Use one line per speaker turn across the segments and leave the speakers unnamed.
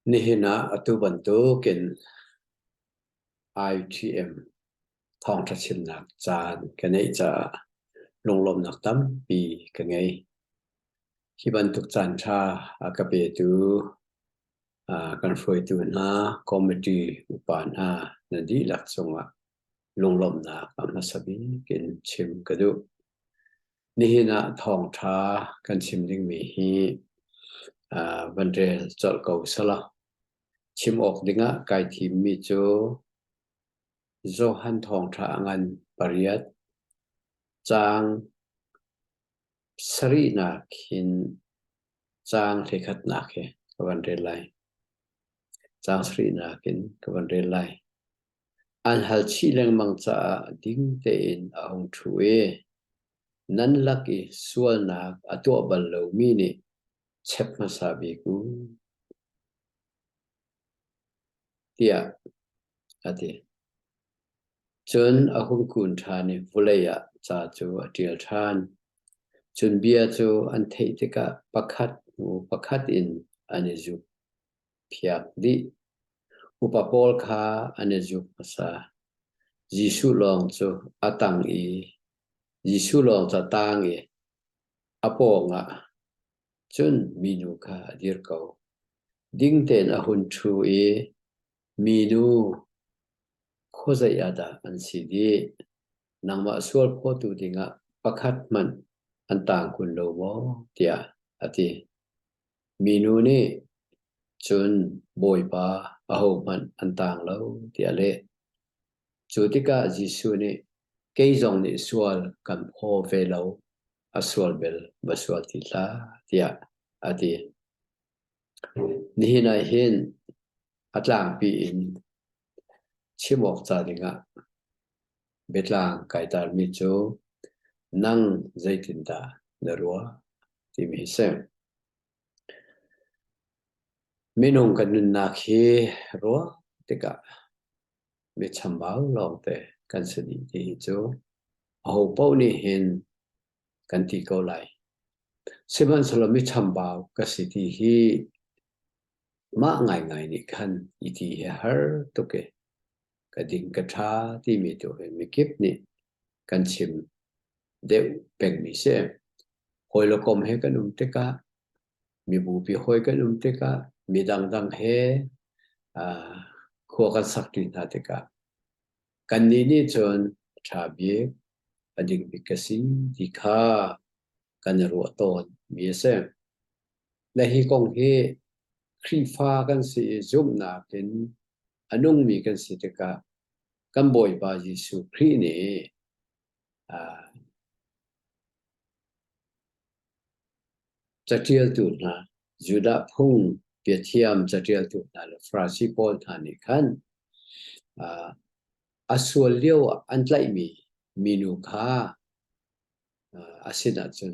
Nihin ah atu bantukin ITM thawngṭha chimnak caan ka ngeih caah lunglawmnak tampi ka ngei. Hi bantuk caanṭha a ka petu ah kan hruaitu hna, committee upa hna na dihlak cungah lunglawmhnak a hmasa bik in chim ka duh. Nihin ah thawngṭha kan chim dingmi hi uh, van rel colh ko sala. Chim awk dingah kai thimmi cu Johan thawngṭha ngan pariat cang sarihnak hin cang hlikhatnak hi ka van rel lai. Cang sarihnak in ka van rel lai. an hal chih lengmang caah ding tein a hung ṭhu i nan lak i sualnak a tuah bal lomi nih chep hmasa bik u, tiah a ti. Cun a hung kun ṭhan i vawlei ah ca cu a ṭial ṭhan. Cun bia cu an theih tikah pakhat hnu pakhat in an i zuk. phiak dih. Upa pawl kha an i zuk hmasa. Jesuh lawng cu a tang i Jesuh lawng cu a tang i a pawng ah cun minu kha a dir ko. Ding tein a hun ṭhu i, Minu, khuazei ah dah an si dih? Nangmah sual phuatu dingah pakhat hmanh an tang kun lo maw? tiah a ti. Minu nih cun Bawipa ahohmanh an tang lo tiah a leh. Cu tikah Jesuh nih, Kei zong nih sual kan phaw ve lo, a sual bel va sual ti hlah, tiah a ti. Nihin ah hin a tlangpi in Chim awk ca dingah biatlang kai tarmi cu nang zeitindah na ruah timi hi si. Minung kan nunnak hi ruah tikah mi chambau lawngte kan si dih tihi cu aho paoh nih hin kan ti ko lai. Sihmanhsehlaw mi chambau ka si ti hi Mah ngaingai nih khan i ti hi a har tuk i ka ding ka ṭha timi tu hi mikip nih kan chim deuh pengmi si. Hawi le kom he kan um tikah, mibupi hawi kan um tikah, mi dangdang he aa khua kan sakṭi hna tikah kannih nih cun a ṭha bik, a ding bik ka si ti kha kan i ruah tawn mi a si. Le hi kong hi Khrihfa kan si i zumhnak in a nungmi kan si tikah kan Bawipa Jesuh Khrih nih uh, catialtu hna Judah phung biathiam catialtu hna le Farasi pawl hna nih khan uh, a sual lio an tlaihmi minu kha a sin ah cun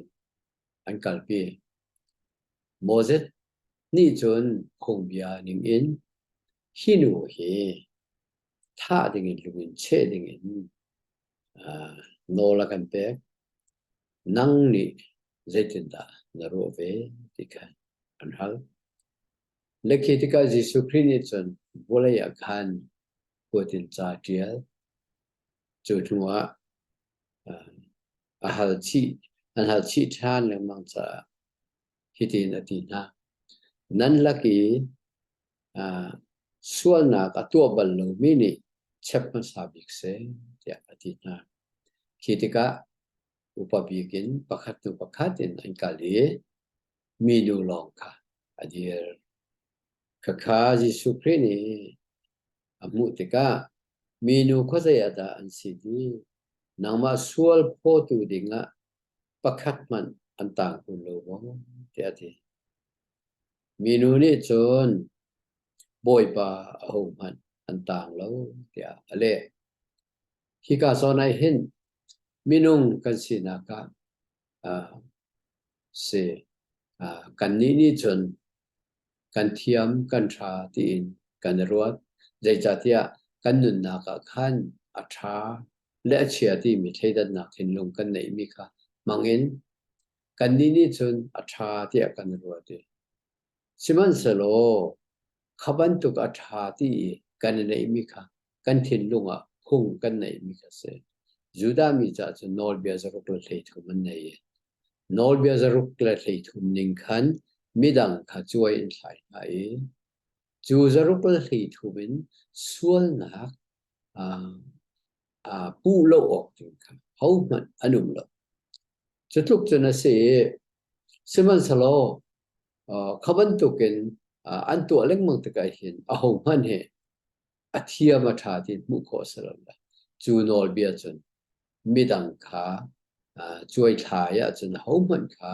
an kalpi. Moses nih cun phungbia ning in hi nu hi thah ding in lung in cheh ding in nawl a kan pek. Nang nih zeitindah na ruah ve ti kha an hal. Na khi tikah Jesuh Khrih nih cun vawlei ah khan kuat in ca ṭial. Cu hnu ah a hal chih an hal chih ṭhan lengmang caah hitin a ti hna. Nan lak i uh, sualnak a tuah bal lomi nih chep hmasa bik seh tiah a ti hna. Khi tikah upa bik in pakhat hnu pakhat in an kal i minu lawng kha a dir. Khakha Jesuh Khrih nih A hmuh tikah minu khuazei ah dah an si ti nangmah sual phawtu dingah pakhat hmanh an tang kun lo maw? Tiah a ti. Minu nih cun Bawipa ahohmanh an tang lo tiah a leh. Hika zawn ah hin minung kan sinak ah uh, si uh, kannih nih cun kan thiam kan ṭha tiin kan i ruat. Zeicahtiah kan nunnak ah khan a ṭha le a chia timi thleidannak thinlung kan neihmi kha hmangin kannih nih cun a ṭha tiah kan i ruat i sihmanhsehlaw kha bantuk a ṭha ti i kan i neihmi kha kan thinlung ah phung kan neihmi kha a si. Judah mi caah cun nawlbia zaruk le hleithum an nei i nawlbia zaruk le hleithum ning khan midang kha cuai in thlai hna i cu zaruk le hleithum in sualnak puh lo awk ding kha hohmanh an um lo. Cu tluk cun a si i, sihmanhselaw kha bantukin an tuah lengmang tikah hin ahohmanh he a thiam a ṭha ti hmuh khawh a si lo. Cu nawlbia cun midang kha cuaithlai ahcun ahohmanh kha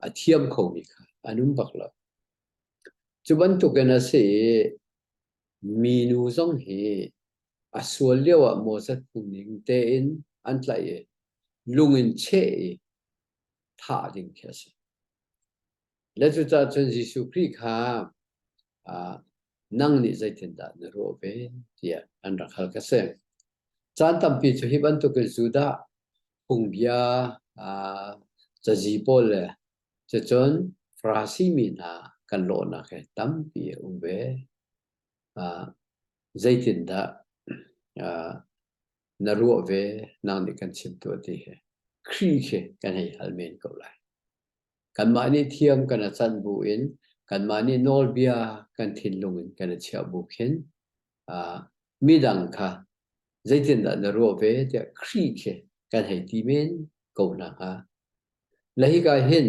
a thiam khomi kha an um bak lo. Cu bantukin a si i minu zong hi a sual lio ah Moses phungning tein an tlaih i lung in cheh i thah ding khi a si. Le cucah cun Jesuh Khrih kha nang nih zeitindah na ruah ve tiah an rak hal ka si. Caan tampi cu hi bantukin Judah phungbia cazi pawl le cucun Farasi mi hna kan lawhnak he tampi a um ve. Zeitindah na ruah ve nang nih kan chim tuah ti hi Khrih khi kan hei hal men ko lai. Kanmah nih thiam kan i canh bu in kanmah nih nawlbia kan thinlung in kan i chiah bu khin midang kha zeitindah na ruah ve tiah Khrih khi kan hei ti men ko hna hnga. Le hika hin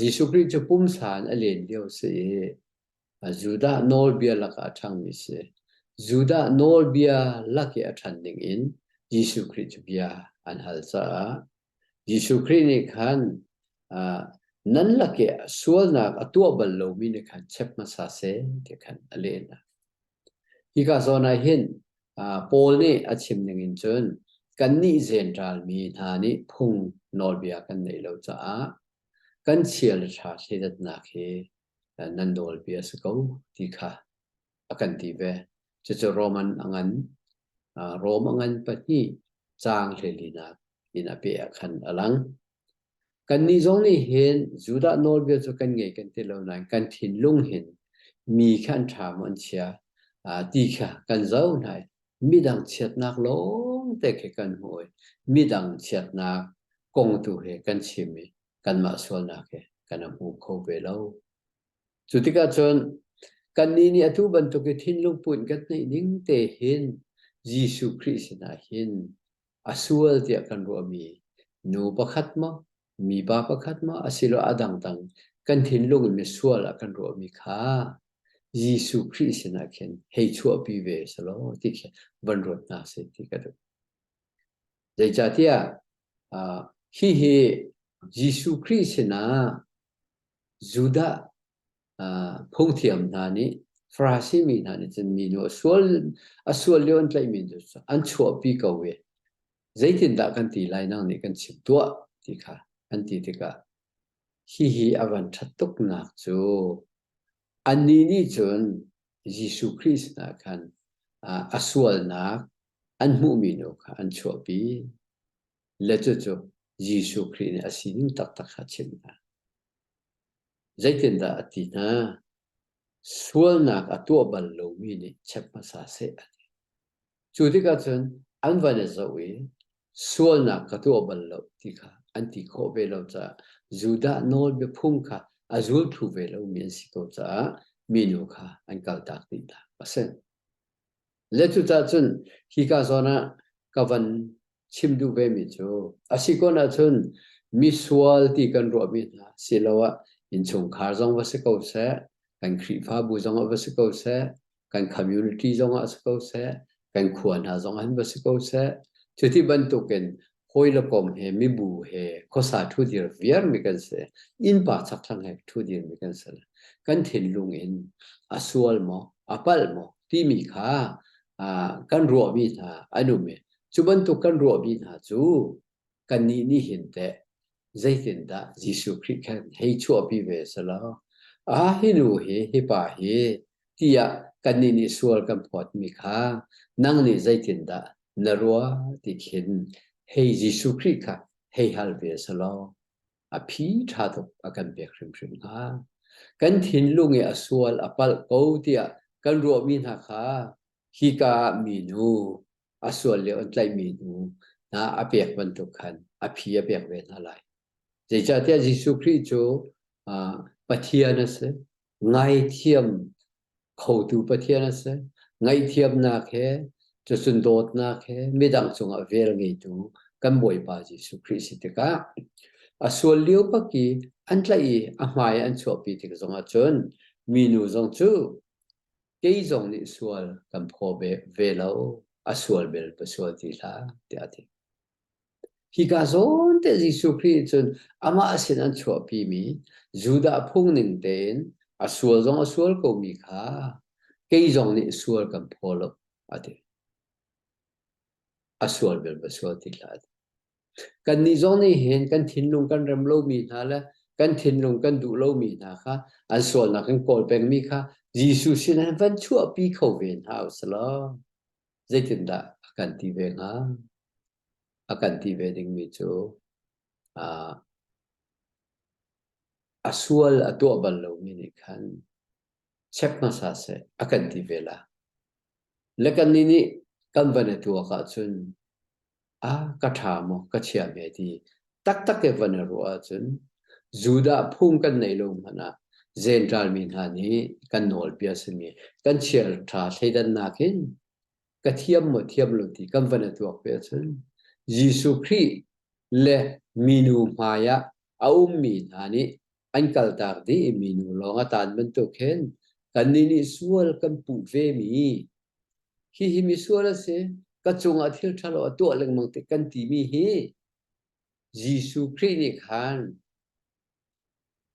Jesuh Khrih cu pumsa in a len lio si i Judah nawlbia lakah a ṭhangmi si. Judah nawlbia lak i a ṭhan ningin Jesuh Khrih cu bia an hal caah Jesuh Khrih nih khan nan lak i sualnak a tuah bal lomi nih khan chep hmasa seh ti khan a leh hna. Hika zawn ah hin Paul nih a chim ningin cun kannih zenralmi hna nih phung nawlbia kan neih lo caah kan chial ṭha thleidatnak hi nan nawlpi a si ko ti kha a kan ti ve. Cucu Roman a ngan, Rom a ngan pahnih caang hlelinak in a pe ah khan a lang. Kannih zong nih hin Judah nawlbia cu kan ngei kan ti lo nain kan thinlung hin mi kha an ṭha maw an chia ti kha kan zoh hna i midang chiatnak lawngte khi kan hmu i midang chiatnak kong tu he kan chim i kanmah sualnak he kan rak um kho ve lo. Cu tikah cun kannih nih atu bantuk i thinlungput in kan neih ning te hin Jesuh Khrih sinah hin a sual tiah kan ruahmi nu pakhat maw mipa pakhat maw asiloah a dangdang kan thinlung in misual ah kan ruahmi kha Jesuh Khrih sinah khin hei chuahpi ve selaw ti khi van ruat hna sih ti ka duh. Zeicahtiah hihi Jesuh Khrih sinah Judah phungthiam hna nih Farasi mi hna nih cun minu a sual a sual lio an tlaih mi cu an chuahpi ko i zeitindah kan ti lai nang nih kan chim tuah ti kha an ti tikah hihi a van ṭhat tuknak cu annih nih cun Jesuh Khrih sinah khan a sualnak an hmuhmi nu kha an chuahpi, le cucu Jesuh Khrih nih a sining taktak kha a chimh hna. Zeitindah a ti hna? Sualnak a tuah bal lomi nih check hmasa seh a ti. Cu tikah cun an van i zoh i sualnak ka tuah bal lo ti kha an ti khawh ve lo caah Judah nawl biaphung kha a zulthlu ve lomi an si ko caah minu kha an kaltak dih hna. A si. Le cucah cun hika zawn ah ka van chim duh vemi cu a si kun ahcun misual ti kan ruahmi hna siloah innchungkhar zong va si ko seh kan Khrihfabu zongah va si ko seh kan community zongah si ko seh kan khua hna zongah hin va si ko seh cuti bantukin hawi le kom he mibu he khosa thu dir viar mi kan se in pa chak thang he thu dir mi kan se kan thin lung in asual mo apal mo ti mi kha kan ruo mi hna anum e cu bantuk kan ruo mi hna cu kan ni ni hin te zeitindah Jesuh Khrih khan hei chuahpi ve selaw, ah hi nu hi hi pa hi tiah kannih nih sual kan phawtmi kha nang nih zeitindah na rua ti khin hei Jesuh Khrih kha hei hal ve selaw a phi ṭha tuk a kan pek hrimhrim hnga. Kan thinlung i a sual a palh ko tiah kan ruahmi hna kha hika ah minu a sual le an tlaihmi hnu hna a pek bantuk khan a phi a pek ve hna lai. Zeicahtiah Jesuh Khrih cu Pathian a si. Ngaithiam khotu Pathian a si. Ngaihthiamnak he, cucun dawtnak he midang cungah vel ngeitu kan Bawipa Jesuh Khrih si tikah a sual lio bak i an tlaih i a hmai an chuahpi tik zongah cun minu zong cu kei zong nih sual kan phaw ve lo, a sual bel pa sual ti hlah, tiah a ti. Hika zawn te Jesuh Khrih cun amah sin an chuahpi mi Judah phung ning tein a sual zong a sual ko mi kha kei zong nih sual kan phaw lo, a ti. A sual bel pa sual ti hlah, Kannih zong nih hin kan thinlung kan rem lomi hna le kan thinlung kan duh lomi hna kha an sualnak kan kawl pengmi kha Jesuh sinah van chuahpi kho ve hna u selaw zeitindah a kan ti ve hnga? A kan ti ve dingmi cu uh, a sual a tuah bal lomi nih khan check hmasa seh a kan ti ve la. Le kannih nih kan van i tuak ahcun a ka ṭha maw ka chia ve ti taktak ke van i ruah ahcun Judah phung kan nei lo hmanh ah zentralmi hna nih kan nawlbia simi kan chiar ṭha thleidannak in ka thiam maw thiam lo ti kan van i tuak ve ahcun Jesuh Khrih le minu hmai ah a ummi hna nih an kaltak dih mi nu lawng a tan bantuk khin kannih nih sual kan puh ve mi hihi misual a si ka cungah thil ṭhalo a tuah lengmang ti kan timi hi Jesuh Khrih nih khan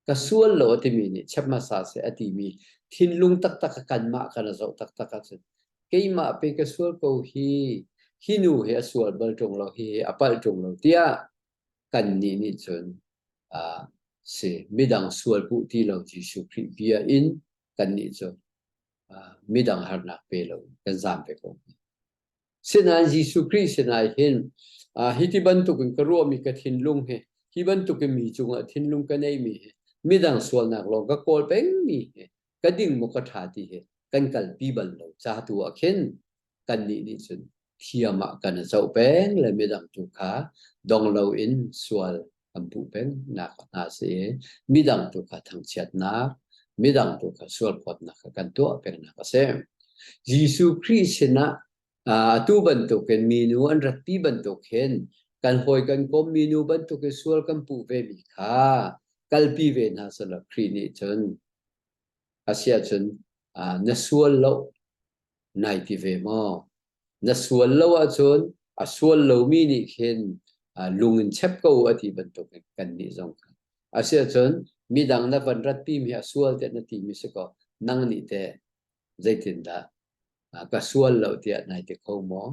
ka sual lo a timi nih chep hmasa seh a timi thinlung taktak a kanmah kan a zoh taktak ahcun keimah pe ka sual ko hi hi nu hi a sual bal ṭung lo hi a palh ṭung lo tiah kannih nih cun a si. Midang sual puh ti lo Jesuh Khrih bia in kannih cu midang harnak pe lo in kan zaam ve ko. Sinain Jesuh Khrih sinah hin hi ti bantukin ka ruahmi ka thinlung hi hi bantukin mi cungah thinlung ka neimi hi midang sualnak lawng ka kawl pengmi hi ka ding maw ka ṭha ti hi kan kalpi bal lo. Ca tu ah khin kannih nih cun thiam ah kan i zoh peng le midang tu kha dong loin sual kan puh peng nak hna si i midang tu kha thangchiatnak midang tu kha sualphawtnak kha kan tuah pengnak a si Jesuh Khrih sinah atu bantukin minu an ratpi bantuk hin kan hawi kan kom minu bantuk i sual kan puh ve mi kha kalpi ve hna sala Khrih nih cun Asiahcun na sual lo nai ti ve maw? Na sual lo ahcun a sual lomi nih khin lung in chep ko u a ti bantukin kannih zong Asiahcun midang na van ratpi mi a sual tiah na ti mi si kaw nang nih teh zeitindah ka sual lo tiah nai ti kho maw?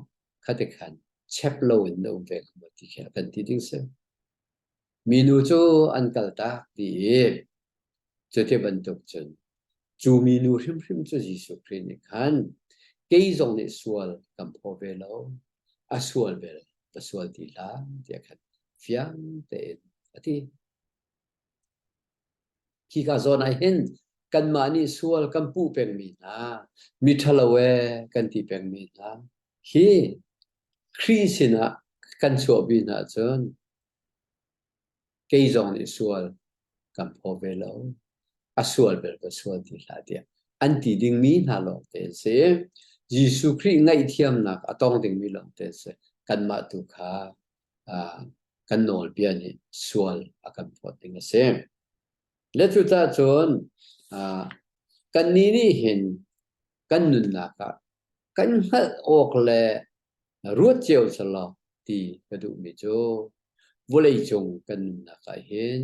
Kha tikhan chep loin na um ve ko maw ti khi a kan ti ding si. Minu cu an kaltak ti i cuti bantuk cun cu minu hrimhrim cu Jesuh Khrih nih khan kei zong nih sual kan phaw ve lo, a sual vel ka sual ti hlah tiah khan fiang tein a ti. Khika zawn ah hin kanmah nih sual kan puh pengmi hna, miṭhalo ee kan ti pengmi hna, hi Khrih sinah kan chuahpi hna cun Kei zong nih sual kan phaw ve lo. A sual bel ka sual ti hlah tiah an ti dingmi hna lawng te a si. Jesuh Khrih ngaihthiamnak a tong dingmi lawng te a si. Kanmah tu kha kan nawlbia nih sual a kan phawt ding a si. Le cucah cun kannih nih hin kan nunnak ah kan hngalh awk le ruat cio selaw ti ka duhmi cu vawleicung kan nunnak ah hin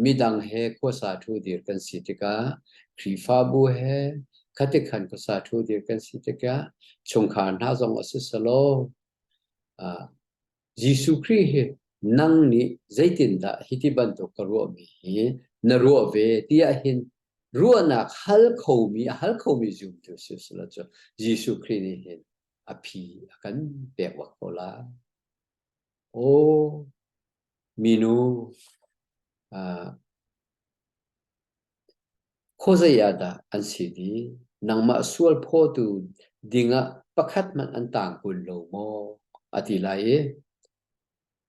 midang he khuasa ṭhu dir kan si tikah Khrihfabu he khatikhan khuasa ṭhu dir kan si tikah chungkhar hna zong a si selaw uh, Jesuh Khrih hi nang nih zeitindah hi ti bantuk ka ruahmi hi na ruah ve tiah hin ruahnak hal khomi a hal khomi zumtu si selaw cu Jesuh Khrih nih hin a phi a kan pek bak ko lai. Aw, minu, uh, khawzei ah dah an si ni? Nangmah sual phaw dingah pakhat man an tang kun lo maw? A ti lai i,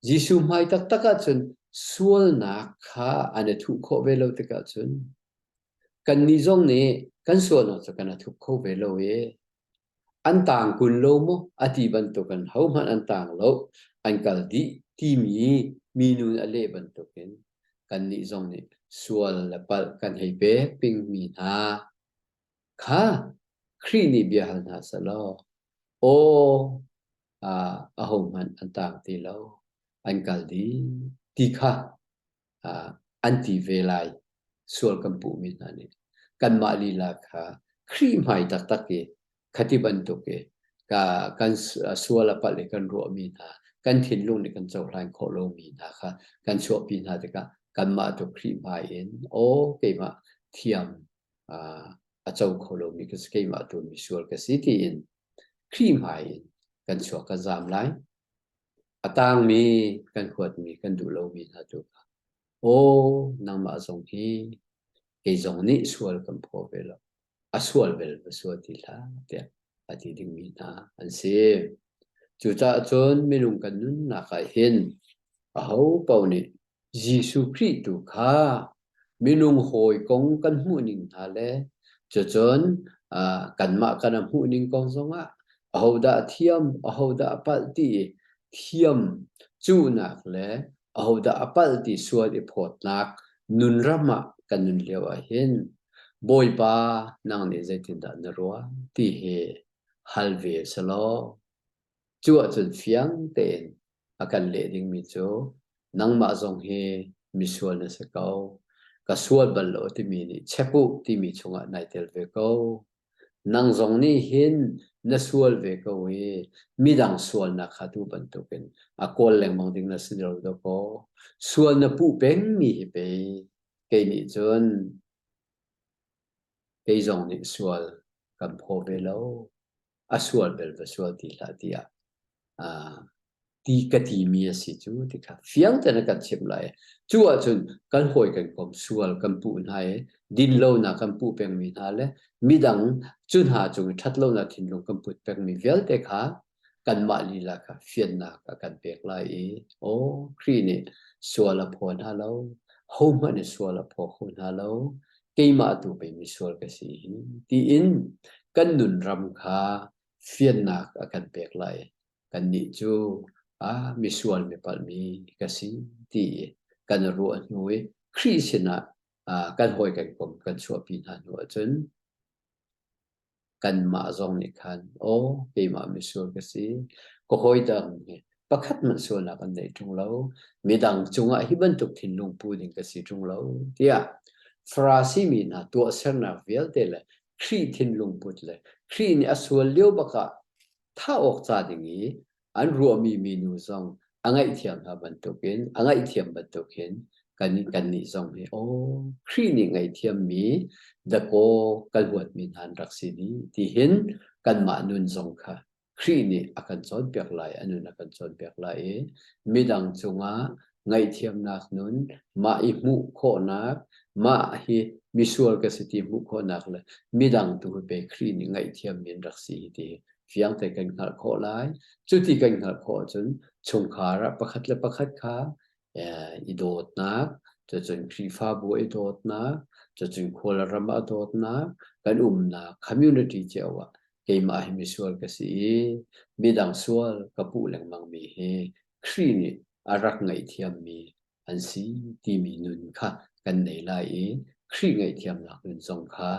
Jesuh hmai taktak ahcun sualnak kha an i thuh khawh ve lo tikah cun, kannih zong nih kan sualnak cu kan i thup kho ve lo i, an tang kun lo maw a ti bantukin hohmanh an tang lo an kal dih timi minu nih a leh bantukin kannih zong nih sual le palh kan hei pek pingmi hna kha Khrih nih bia hal hna selaw aw ah ahohmanh an tang ti lo an kal dih ti kha an ti ve lai sual kan puhmi hna nih kanmah lila kha khrihhmai taktak i khati bantuk i kan sual a palh i kan ruahmi hna kan thinlung nih kan cohlan khawh lomi hna kha kan chuahpi hna tikah kanmah tu khrihhmai in aw keimah thiam a co kho lomi ka si keimah tu misual ka si tiin khrihhmai in kan chuak kan zaam lai. A tangmi kan huatmi kan duh lomi hna tu kha, Aw, nangmah zong hi kei zong nih sual kan phaw ve lo. A sual vel va sual ti hlah tiah a ti dingmi hna an si. Cucaah cun minung kan nunnak ah hin aho paoh nih Jesuh Khrih tu kha minung hawi kong kan hmuhning hna le cucun kanmah kan a hmuhning kong zongah ahodah a thiam, ahodah a palh ti i thiam cuhnak le ahodah a palh ti sual i phawtnak nun ram ah kan nun lio ahhin Bawipa nang nih zeitindah na ruah ti hi hal ve a si lo. Cu ahcun fiang tein a kan leh dingmi cu nangmah zong hi misual na si ko ka sual bal lo timi nih chep u timi chungah nai tel ve ko nang zong nih hin na sual ve ko i midang sualnak kha tu bantukin a kawl lengmang ding na si lo dawkaw sual na puh pengmi hi pei kei nih cun kei zong nih sual kan phaw ve lo a sual bel va sual ti hlah tiah ti ka timi a si cu ti kha fiang tein a kan chimh lai cu ahcun kan hawi kan kom sual kan puh hna i din lonak kan puh pengmi hna le midang cu hna cung i ṭhat lonak thinlung kan put pengmi vialte kha kanmah lila kha fiannak a kan pek lai i aw Khrih nih sual a phaw hna lo hohmanh nih sual a phaw kho hna lo keimah tu pei misual ka si hi tiin kan nunram kha fiannak a kan pek lai. Kannih cu ah misual mipalhmi ka si ti kan ruah hnu i Khrih sinah ah kan hawi kan kom kan chuahpi hna hnu ahcun kanmah zong nih khan aw keimah misual ka si ka hawi dang nih pakhat hmanh sualnak an nei ṭung lo midang cungah hi bantuk thinlung pu ding ka si ṭung lo tiah Farasi mi hna tuahsernak vialte le Khrih thinlung put le Khrih nih a sual lio bak ah thah awk ca ding i an ruahmi minu zong a ngaihthiam hna bantukin a ngaihthiam bantukin kan kannih zong hi aw Khrih nih ngaihthiammi dakaw kan huatmi hna rak si ni tihin kanmah nun zong kha Khrih nih a kan cawnpiak lai a nun a kan cawnpiak lai i midang cungah ngaihthiamnak nun, mah i hmuh khawhnak, mah hi misual ka si ti hmuh khawhnak le midang tu pe Khrih nih ngaihthiam min rak si ti fiang te kan hngalh khawh lai. Cuti kan hngalh khawh cun chungkhar ah pakhat le pakhat kha i dawtnak, cun Khrihfabu i dawtnak, cun khual ram ah dawtnak, kan umnak community cio ah keimah hi misual ka si i midang sual ka puh lengmang mi hi Khrih nih a rak ngaihthiammi an si timi nun kha kan nei lai i Khrih ngaihthiamnak nun zong kha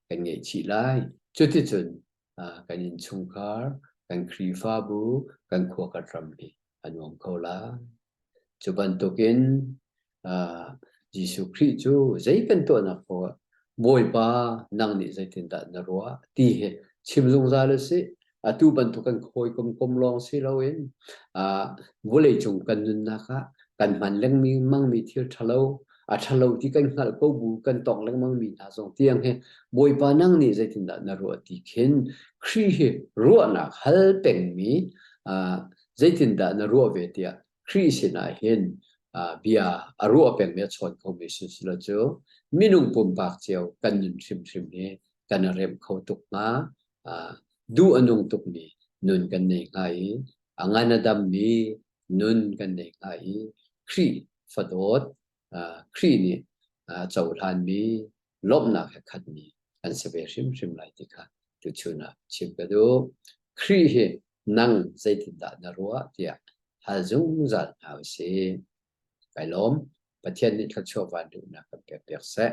kan ngaihchih lai. Cuticun kan innchungkhar, kan Khrihfabu, kan khuakhat ram hi a nuam ko lai. Cu bantukin Jesuh Khrih cu zei kan tuahnak poah Bawipa nang nih zeitindah na ruah ti hi chim zungzal u sih. Atu bantuk kan hawikom kom lawng si loin vawleicung kan nunnak ah kan hman lengmangmi thil ṭhalo, a ṭhalo ti kan hngalh ko bu kan tong lengmangmi hna zong tiang hi Bawipa nang nih zeitindah na ruah ti khin Khrih hi ruahnak hal pengmi zeitindah na ruah ve tiah Khrih sinah hin bia a ruah pengmi a chawn khomi sisilo cu minung pumpak cio kan nun hrimhrim hi kan a remh kho tuk hnga. Duh a nung tukmi nun kan nei hnga i a ngan a dammi nun kan nei hnga i Khrih fadawt, Khrih nih a cohlanmi lawmhnak he khatmi an si ve hrimhrim lai ti kha tuchun ah chim ka duh. Khrih hi nang zeitindah na ruah tiah hal zungzal hna u sih. Kai lawm, Pathian nih thluachuah van duhnak kan pek piak seh.